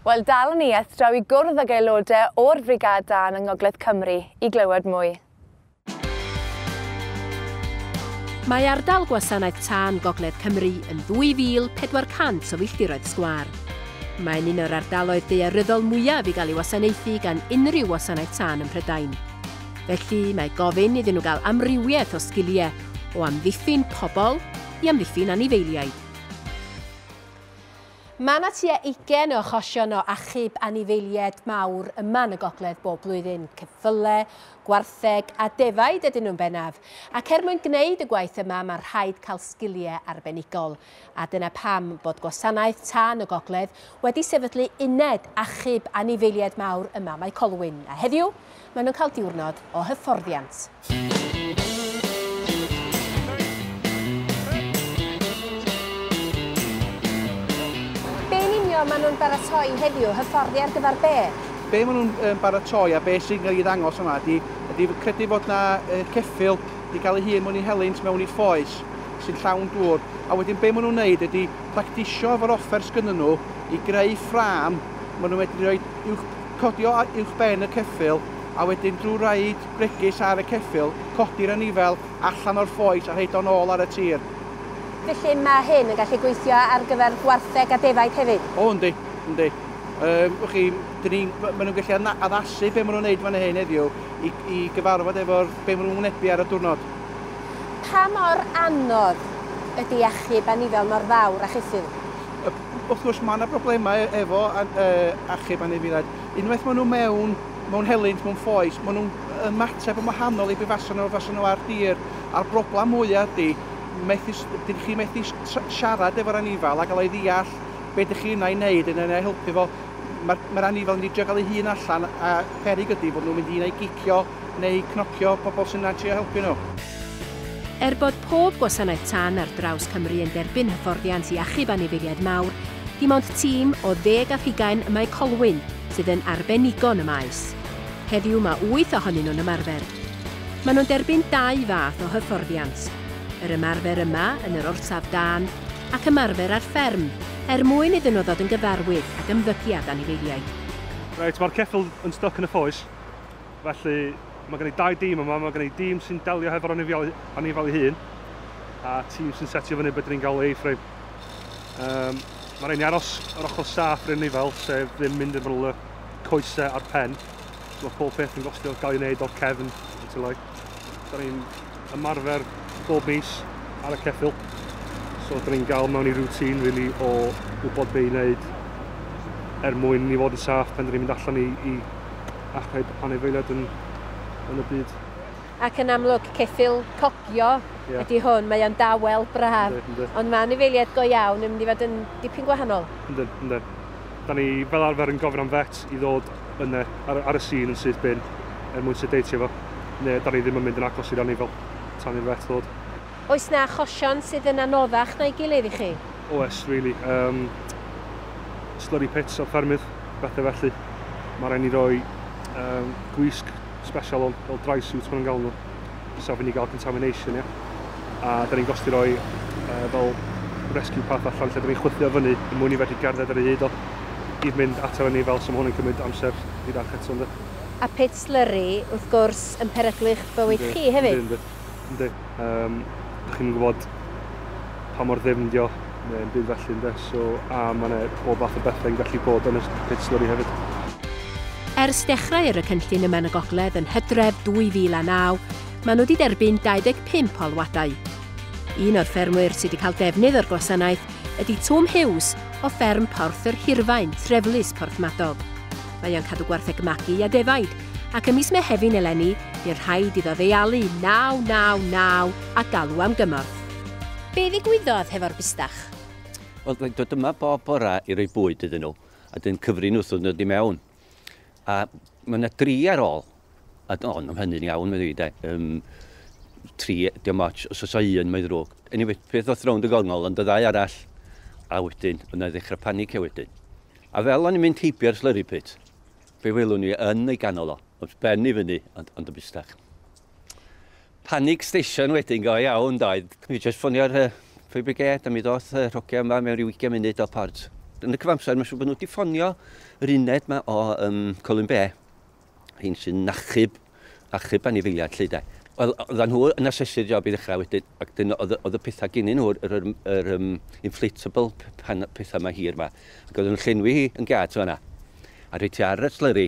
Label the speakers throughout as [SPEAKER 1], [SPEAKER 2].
[SPEAKER 1] Wel, dalwn i eth draw i gwrdd ag aelodau o'r Frigâd Dân yng Ngogledd Cymru i glywed mwy.
[SPEAKER 2] Mae ardal Gwasanaeth Tân Gogledd Cymru yn 2,400 o filltiroedd sgwâr. Mae'n un o'r ardaloedd daearyddol mwyaf i gael ei wasanaethu gan unrhyw wasanaeth tân ym Mhrydain. Felly, mae gofyn iddyn nhw gael amrywiaeth o sgiliau, o amddiffyn pobl i amddiffyn anifeiliaid. Mae yna tua ugain o achosion o achub anifeiliaid mawr yma yn y gogledd bob blwyddyn, cyffyle, gwartheg a defaid ydyn nhw'n bennaf, ac er mwyn gwneud y gwaith yma mae rhaid cael sgiliau arbenigol. A dyna pam bod Gwasanaeth Tân y Gogledd wedi sefydlu uned achub anifeiliaid mawr ym Mae Colwyn, a heddiw Maen nhw'n cael diwrnod o hyfforddiant. Be yn union maen nhw'n baratoi heddiw, hyfforddi ar gyfer be? Be maen nhw'n yym
[SPEAKER 3] baratoi a be sy'n cael ei ddangos yma ydi ydi credu fod 'na yy ceffyl 'di cael ei hun mewn i helynt mewn i ffoes sy'n llawn dŵr a wedyn be maen nhw'n wneud ydi practisio efo'r offer sgynnyn nhw i greu ffrâm maen nhw'n medru roid uwch codi o uwchben y ceffyl a wedyn drwy roid bregus ar y ceffyl, codi'r anifel allan o'r ffoes a rhoid o'n ôl ar y tir. Felly
[SPEAKER 2] mae hyn yn gallu gweithio ar gyfer gwartheg a defaid hefyd? O yndi, yndi.
[SPEAKER 3] Yym, wch chi, dyn ni, maen nhw'n gallu adna- addasu be maen nhw'n wneud fan hyn heddiw i, i gyfarfod efo'r, be maen nhw'n wynebu ar y diwrnod. Pa
[SPEAKER 2] mor anodd ydy achub anifel mor fawr a cheffyl? Wrth gwrs,
[SPEAKER 3] mae yna broblemau e- efo an- yy, achub anifeiliaid. Unwaith maen nhw mewn, mewn helynt, mewn ffoes, maen nhw'n ymateb yn wahanol i be fasen nhw fasen nhw ar dir. A'r broblem mwyaf ydy, methu s- dyn chi methu s- tra- siarad efo'r anifal a gael ei ddeall be dych chi yna i wneud yn yna i helpu fo. Mae'r mae'r anifal yn mynd i drio gael ei hun allan a peryg ydy fod nhw'n mynd i yna i gicio neu cnocio pobl sy'n yna trio helpu nhw. Er
[SPEAKER 2] bod pob gwasanaeth tân ar draws Cymru yn derbyn hyfforddiant i achub anifeiliaid mawr, dim ond tîm o ddeg â thugain y mae Colwyn sydd yn arbenigo yn y maes. Heddiw mae wyth ohonyn nhw'n ymarfer. Maen nhw'n derbyn dau fath o hyfforddiant, yr ymarfer yma yn yr orsaf dân ac ymarfer ar fferm er mwyn iddyn nhw ddod yn gyfarwydd ag ymddygiad anifeiliaid. Reit, mae'r
[SPEAKER 4] ceffyl yn styc yn y ffoes. Felly, mae gen i dau dîm yma, mae gen i dîm sy'n delio hefo'r anifail, anifail ei hun, a tîm sy'n setio fyny beth ni'n gael ei A-frame. Um, mae rhaid ni aros yr ochr saff rhaid ni fel, sef ddim mynd yn y coesau a'r pen. So mae pob peth yn gostio gael ei wneud o'r cefn, yn tylai. Da ni'n ymarfer bob mis ar y ceffyl. So da ni'n gael mewn i routine really o wybod be i wneud er mwyn ni fod yn saff pan da ni'n mynd allan i, i achub anifeiliaid yn, yn y byd. Ac yn amlwg,
[SPEAKER 2] ceffyl cogio yeah. ydy hwn, mae o'n dawel, braf, ynddi, ynddi. ond mae anifeiliaid go iawn yn mynd i fod yn dipyn gwahanol. Yndyn, yndyn.
[SPEAKER 4] Da ni fel arfer yn gofyn am vet i ddod yn y, ar, ar y sîn yn syth bin er mwyn sedeitio fo, neu da ni ddim yn mynd yn agos i'r anifail tan i'r vet ddod. Oes 'na achosion
[SPEAKER 2] sydd yn anoddach na'i gilydd i chi? Oes, rili.
[SPEAKER 4] Yym, slurry pits ar ffermydd, bethe felly. Ma' raid ni roi, yym, gwisg sbesial on, fel dry suit ma' nhw'n galw nhw. Os ofyn i gael contamination, ia? A da ni'n gosti roi uh, fel rescue path allan lle da ni'n chwythio fyny yn mwyn i fedru gerdded ar ei hyd o i fynd ato ni fel sy'n hwn yn cymryd amser i ddach eto ynddo. A pit slurry,
[SPEAKER 2] wrth gwrs, yn peryglu'ch bywyd chi hefyd. Ynddo, ynddo. Um,
[SPEAKER 4] da chi'n gwybod pa mor ddim dio, neu'n byd felly ynde, so a mae yna bob fath o bethau'n gallu bod yn y pit slurry hefyd. Ers
[SPEAKER 2] dechrau ar y cynllun yma yn y Gogledd yn Hydref 2009, maen nhw wedi derbyn 25 alwadau. Un o'r ffermwyr sydd wedi cael defnydd o'r gwasanaeth ydy Twm Hughes o fferm Porth yr Hirfaen, Treflus, Porthmadog. Mae o'n cadw gwartheg magu a defaid, ac ym mis Mehefin eleni, bu'r rhaid iddo ddeialu 999 a galw am gymorth. Be ddigwyddodd hefo'r bustach? Wel, mae'n
[SPEAKER 5] dod yma bob bora i roi bwyd iddyn nhw, a dyn cyfri nhw wrth ddod i mewn. A mae yna dri ar ôl, a o, nhw'n hynny'n iawn, mae'n dweud, e. Um, tri, dim ots, os oes o un, mae'n ddrwg. Anyway, peth oedd rownd y gongol, ond y ddau arall, a wedyn, yna ddechrau panicio wedyn. A fel o'n i'n mynd heibio ar slurry pit, fe welwn ni yn ei ganol o, wrth ben i fyny, ond, ond y bustach. Panic station wedyn go iawn doedd. Mi jyst ffonio'r uh, fire brigade a mi ddoth y uh, rhogia yma mewn rhyw 20 munud o port. Yn y cyfamser, mae'n siŵr bod nhw wedi ffonio yr uned yma o um, Colin Bay, hyn sy'n nachub, achub anifiliad lle de. Wel, oedden nhw yn asesu'r job i ddechrau wedyn, ac dyn oedd, oedd y pethau gynnu nhw, yr, yr, yr um, inflatable pan, pethau mae hir yma. Ac oedden nhw'n llenwi hi yn gad yna. A rhaid ti ar y slurry,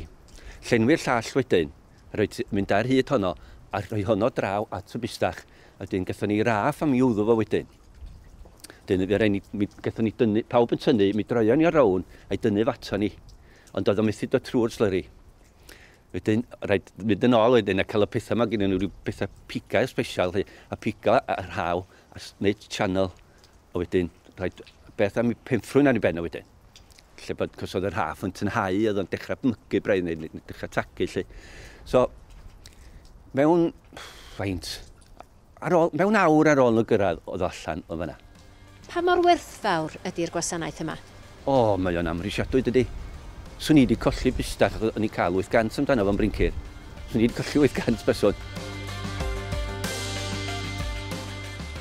[SPEAKER 5] llenwi'r llall wedyn, Reit, mynd ar hyd honno a rhoi honno draw at y bustach. A wedyn gathon ni raff a mi wddw fo wedyn. Wedyn fe rai ni, mi gathon ni dynnu, pawb yn tynnu, mi droion ni o rown a'i dynnu fo ato ni. Ond oedd o methu dod trwy'r slyri. Wedyn, rhaid mynd yn ôl wedyn a cael y pethau yma gyda nhw, rhyw bethau pigau special, hi, a pigo a rhaw a wneud channel. A wedyn, rhaid beth am i penffrwyn ar ei ben o wedyn. lle bod cos oedd yr haf yn tynhau, oedd o'n dechrau mygu braidd neu dechrau tagu lle. So, mewn faint, ar ôl, mewn awr ar ôl y gyrraedd oedd o allan o fyna. Pa mor
[SPEAKER 2] werthfawr ydy'r gwasanaeth yma? O, oh, mae o'n
[SPEAKER 5] amhrisiadwy dydy. Swn i wedi colli busdach, o'n i'n cael 800 amdano fo'n brincir. Nid colli 800 person.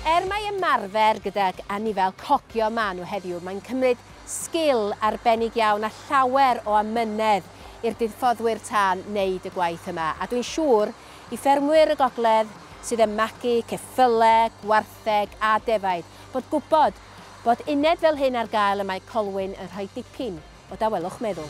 [SPEAKER 2] Er mai ymarfer gydag anifail cogio maen nhw heddiw, mae'n cymryd sgil arbennig iawn a llawer o amynedd i'r budffoddwyr tân wneud y gwaith yma, a dwi'n siŵr i ffermwyr y gogledd sydd yn magu ceffylau, gwartheg a defaid, bod gwybod bod uned fel hyn ar gael y mae Colwyn yn rhoi dipyn o dawelwch meddwl.